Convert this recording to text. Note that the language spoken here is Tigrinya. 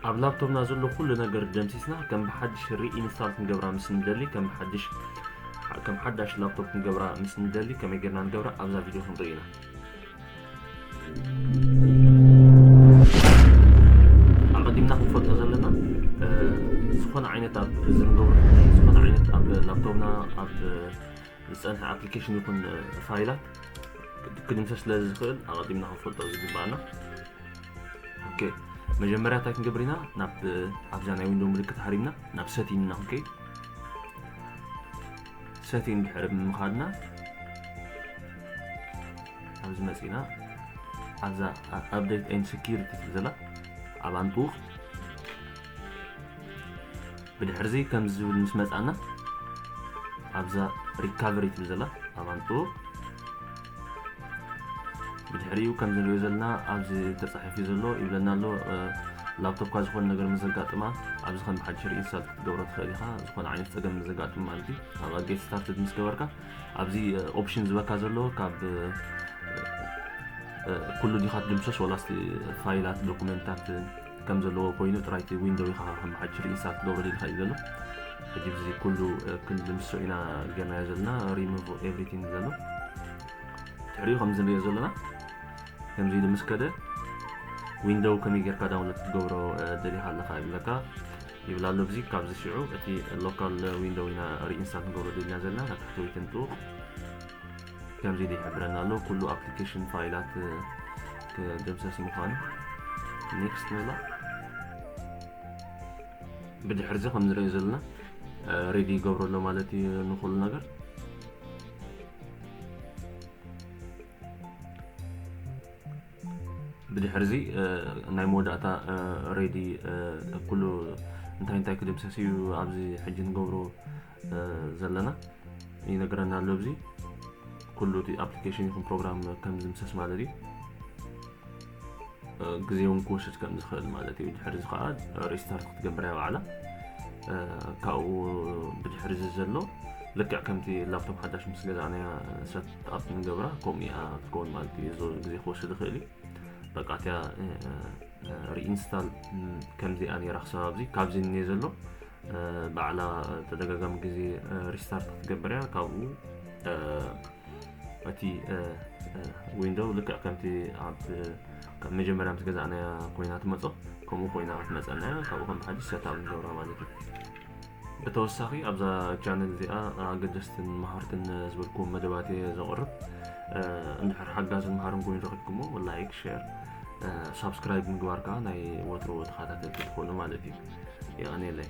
ኣብ ላፕቶፕና ዘሎ ኩሉ ነገር ደምሲስና ከም ብሓድሽ ሪኢንስታል ክንገብራ ምስ ንደሊ ከም ብሓድሽ ከም ሓዳሽ ላፕቶፕ ክንገብራ ምስ ንደሊ ከመይ ጌርና ንገብራ ኣብዛ ቪድዮ ክንርኢ ኢና ኣቐዲምና ክንፈልጦ ዘለና ዝኾነ ዓይነት ኣብ ዝንገብሮ ዝኾነ ዓይነት ኣብ ላፕቶፕና ኣብ ዝፀንሐ ኣፕሊኬሽን ይኹን ፋይላት ክድምሰስ ስለ ዝኽእል ኣቐዲምና ክንፈልጦ ዝግባኣና ኦኬ መጀመርያ እንታይ ክንገብር ኢና ናብ ኣብዛ ናይ ዊንዶ ምልክት ሃሪምና ናብ ሰቲን ኢና ክንከይድ ሰቲን ድሕሪ ብምኻድና ኣብዚ መፂና ኣብዛ ኣፕደት ኤን ሴኪሪቲ ትብል ዘላ ኣብ ኣንጡቕ ብድሕርዚ ከምዚ ዝብል ምስ መፃና ኣብዛ ሪካቨሪ ትብል ዘላ ኣብ ኣንጡቕ ብድሕሪኡ ከምዚ ንሪኦ ዘለና ኣብዚ ተጻሒፉ ዘሎ ይብለና ኣሎ ላፕቶፕካ ዝኾነ ነገር ምስ ዘጋጥማ ኣብዚ ከም ብሓድሽ ሪኢንስታል ክትገብሮ ትኽእል ኢኻ ዝኾነ ዓይነት ፀገም ምስ ዘጋጥም ማለት እዩ ካብ ጌት ስታርትድ ምስ ገበርካ ኣብዚ ኦፕሽን ዝበካ ዘሎ ካብ ኩሉ ዲኻ ትድምሰስ ወላስ ፋይላት ዶኩመንታት ከም ዘለዎ ኮይኑ ጥራይ እቲ ዊንዶው ኢኻ ከም ሓድሽ ሪኢንስታል ክትገብሮ ደሊኻ እዩ ዘሎ ሕጂ እዚ ኩሉ ክንዲ ምስኡ ኢና ጌርናዮ ዘለና ሪሙቭ ኤቭሪቲንግ ዘሎ ትሕሪኡ ከምዚ ንሪኦ ዘለና ከምዚ ኢሉ ምስ ከደ ዊንዶው ከመይ ጌርካ ዳውንሎድ ክትገብሮ ደሊኻ ኣለኻ ይብለካ ይብል ኣሎ ብዚ ካብዚ ሽዑ እቲ ሎካል ዊንዶው ኢና ሪኢንስታል ክንገብሮ ደልና ዘለና ናብ ትሕቲ ወይ ትንጡቕ ከምዚ ኢሉ ይሕብረና ኣሎ ኩሉ ኣፕሊኬሽን ፋይላት ክድምሰስ ምዃኑ ኔክስት ንብላ ብድሕር እዚ ከም ንሪኦ ዘለና ሬዲ ይገብሮ ኣሎ ማለት እዩ ንኩሉ ነገር ብድሕር እዚ ናይ መወዳእታ ሬዲ ኩሉ እንታይ እንታይ ክድምሰስ እዩ ኣብዚ ሕጂ ንገብሮ ዘለና ይነግረና ኣሎ እዚ ኩሉ እቲ ኣፕሊኬሽን ይኹን ፕሮግራም ከም ዝምሰስ ማለት እዩ ግዜ እውን ክወስድ ከም ዝኽእል ማለት እዩ ድሕሪ እዚ ከዓ ሪስታርት ክትገብር እያ ባዕላ ካብኡ ብድሕሪ እዚ ዘሎ ልክዕ ከምቲ ላፕቶፕ ሓዳሽ ምስ ገዛእናያ ሰት ኣፕ ንገብራ ከምኡ እያ ትከውን ማለት እዩ እዚ ግዜ ክወስድ ይኽእል እዩ በቃ እቲያ ሪኢንስታል ከምዚኣ ነራ ክሳብ ኣብዚ ካብዚ እኒአ ዘሎ ባዕላ ተደጋጋሚ ግዜ ሪስታርት ክትገብር እያ ካብኡ እቲ ዊንዶው ልክዕ ከምቲ ኣብ ካብ መጀመርያ ምስ ገዛእናያ ኮይና ትመፆ ከምኡ ኮይና ክትመፀና እያ ካብኡ ከም ሓድሽ ሰታብ ንገብራ ማለት እዩ ብተወሳኺ ኣብዛ ቻነል እዚኣ ኣገደስትን መሃርትን ዝበልኩም መደባት እየ ዘቕርብ እንድሕር ሓጋዝን መሃርን ኮይኑ ረኪብኩሞ ላይክ ሸር ሳብስክራይብ ምግባር ከዓ ናይ ወትሮ ተኸታተልቲ ትኾኑ ማለት እዩ የቀኔለይ